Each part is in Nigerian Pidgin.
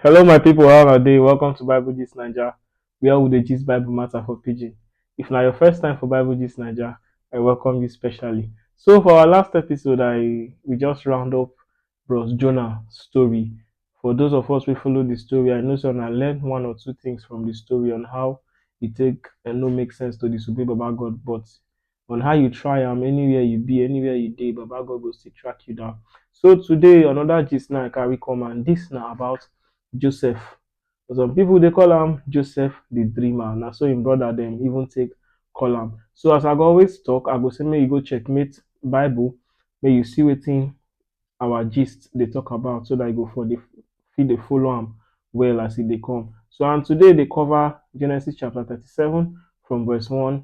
Hello my people, how una dey? Welcome to Bible Gist Naija, where we dey gist Bible matter for pidgin. If na your first time for Bible Gist Naija, I welcome you specially. So for our last episode, I we just round up Bros Jonah story. For those of us who follow the story, I know say una learn one or two things from the story on how e take eh, no make sense to disobey Baba God, but on how you try am anywhere you be anywhere you dey baba god go still track you down so today another gist now i carry come and this na about joseph some people dey call am joseph the dreamer na so him brother dem even take call am so as i go always talk i go say make you go checkmate bible make you see wetin our gist dey talk about so that you go for dey fit dey follow am well as e dey come so and today dey cover genesis chapter thirty-seven from verse one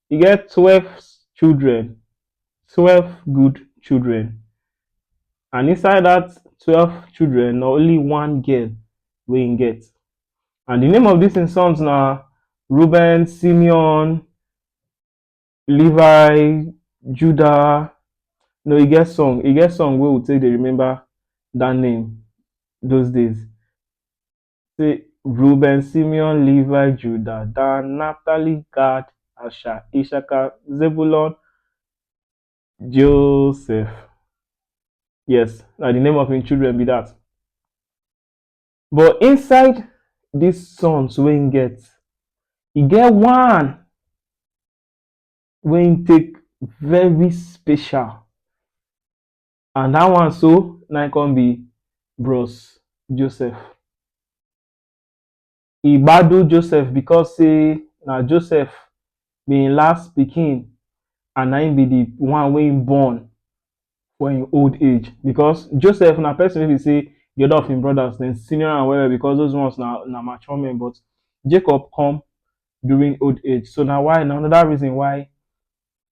e get twelve children, twelve good children and inside dat twelve children na only one girl wey im get and di name of dis im sons na Reuben, Simeon, Levi, Judah, no e get song e get song wey we take dey remember dat name those days. say Reuben, Simeon, Levi, Judah, Dan, Naphtali, Gad, Asher, Issachar, Zebulun, Joseph. Yes, now the name of his children be that. But inside these sons wey him get, he get one wey him take very special. And that one so na im come be Bros Joseph. E gbadu Joseph because say na Joseph be im last pikin and na im be the one wey im born for im old age because Joseph na person wey be say the other of im brothers dem senior am well well because those ones na na mature men but Jacob come during old age so na why na another reason why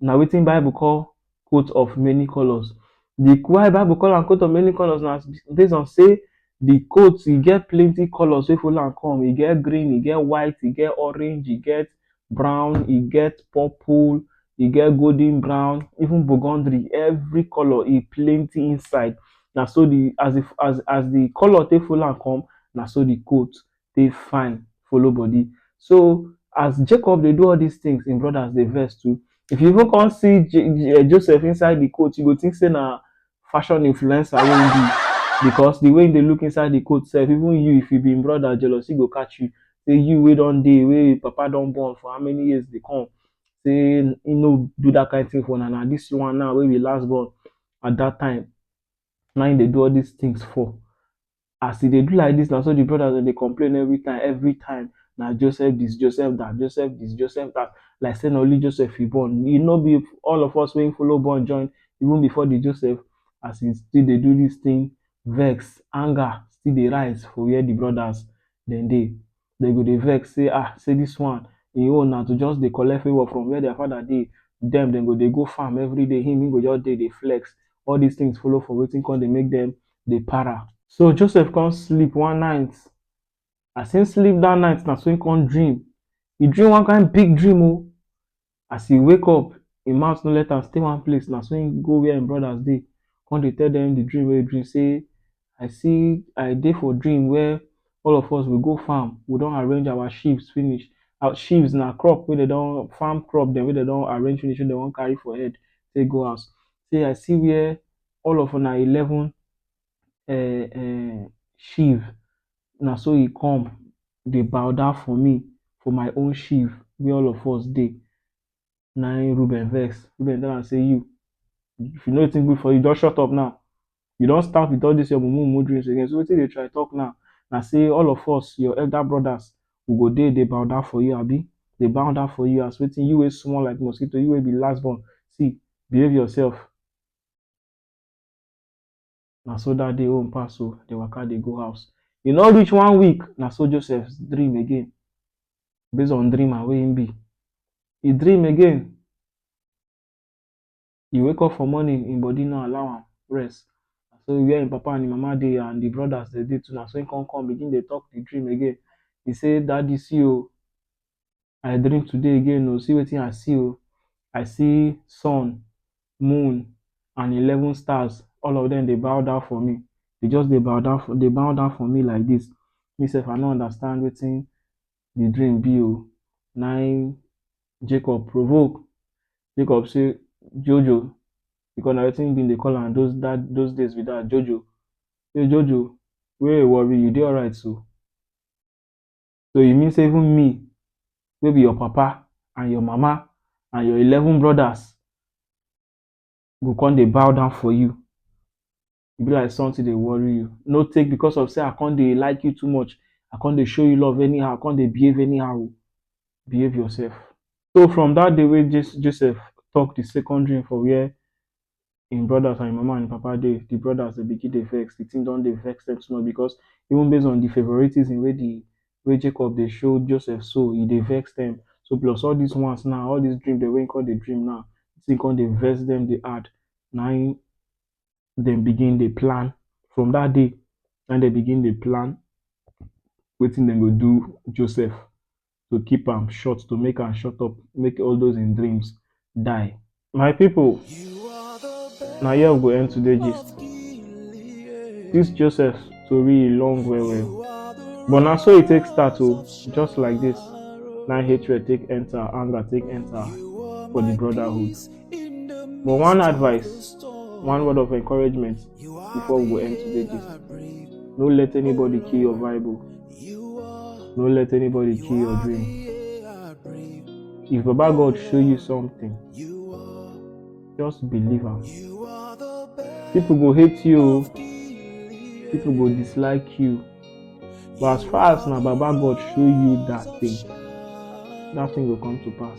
na wetin bible call coat of many colours. Di why bible call am coat of many colours na base on sey di coat e get plenty colours wey follow am come, e get green, e get white, e get orange, e get brown, e get purple, e get golden brown even burgundery every colour e plenty inside. Na so di as di as as di colour take follow am come na so di coat dey fine follow body. So as Jacob dey do all dis things, im brothers dey vex too. If you even come see Joseph inside de coat, you go think sey na fashion influencer wey im be because de way im dey look inside de coat sef, even you if you be im brother, jealousy go catch you. Sey you wey don dey, wey im papa don born for how many years dey come sey im no do dat kain thing for una, na dis one now wey be last born at dat time na im dey do all dis things for. as e dey do like dis na so di brothers dem dey complain every time every time na Joseph dis Joseph dat Joseph dis Joseph dat like sey na only Joseph e born e no be all of us wey follow born join even before di Joseph as e still dey do dis tin vex anger still dey rise for where di brothers dem dey dem go dey vex sey ah sey dis one e own na to just dey collect favor from where their father dey, dem dem go dey go farm everyday him him go just dey dey flex, all dis things follow for wetin come dey make dem dey para. So Joseph come sleep one night, as him sleep dat night na so him come dream, e dream one kind big dream o, As he wake up, him mouth no let am stay one place. Na so him go where him brothers dey. Come dey tell them the dream wey he dream say, I see, I dey for dream where all of us we go farm. We don arrange our sheaves finish. Our sheaves na crop wey dem don farm crop dem wey dem don arrange finish wey dem wan carry for head take go house. Say I see where all of una eleven um um sheaf, na so he come dey bow down for me for my own sheaf where all of us dey. Na im Reuben vex. Reuben tell am say, You, if you know wetin good for you, just shut up now. You don start with all these your mumu mumu dreams again. So wetin you dey try talk now? Na say all of us, your elder brothers, we go dey dey bow down for you, abi? Dey bow down for you as wetin? You wey small like mosquito, you wey be last born. See, behave yourself. Na so dat day own pass o, dem waka dey go house. E no reach one week, na so Joseph dream again. Base on dreamer wey im be, e dream again. E wake up for morning, im body no allow am rest. Na so where im papa and im mama dey and im brothers dem dey too, na so im come come begin dey talk the dream again. E say, Daddy, see o! I dream today again oh, see wetin I see oh, I see sun, moon and eleven stars all of dem dey bow down for me, dey just dey bow down for dey bow down for me like dis, me sef I no understand wetin de dream be oh, na im Jacob provoke, Jacob sey Jojo because na wetin him dey call am those those days be dat Jojo, sey Jojo where your worry you dey alright so. So e mean sey even me wey be your papa and your mama and your eleven brothers go come dey bow down for you. E be like something dey worry you. No take because of sey I come dey like you too much, I come dey show you love anyhow, come dey behave anyhow oh. Behave yourself. So from dat day wey Joseph talk the second dream for where him brothers and him mama and him papa dey, the brothers dey begin dey vex, the thing don dey vex them small because even base on the favoritism wey the wey Jacob dey show Joseph so, e dey vex them. So plus all these ones now, all these dream dem wey him come dey dream now, the thing come dey vex them dey add. Na im dem begin dey plan. From that day, na im dem begin dey plan wetin dem go do Joseph. to keep am short, to make am shut up, make all those im dreams die. My people, na here we go end today gist. This Joseph tori e long well well, but na so e take start o, just like this. Na hatred take enter, anger take enter for the brotherhood. But one advice, one word of encouragement before we go end today gist. No let anybody kill your vibe o. You are No let anybody kill your the dream. air I breathe. If Baba God show you something, You are, just believe am. you are the best. People go hate you, o, Dearly people go dislike you. But as far as na Baba God show you that thing, that thing go come to pass.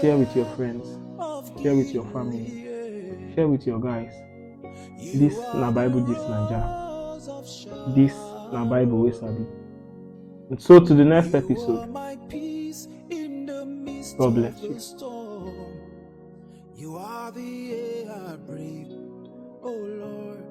Share with your friends, share with your family, share with your guys. This na Bible this Naija. This na Bible wey sabi. And so to the next episode. God bless you. You are the air I breathe. Oh Lord.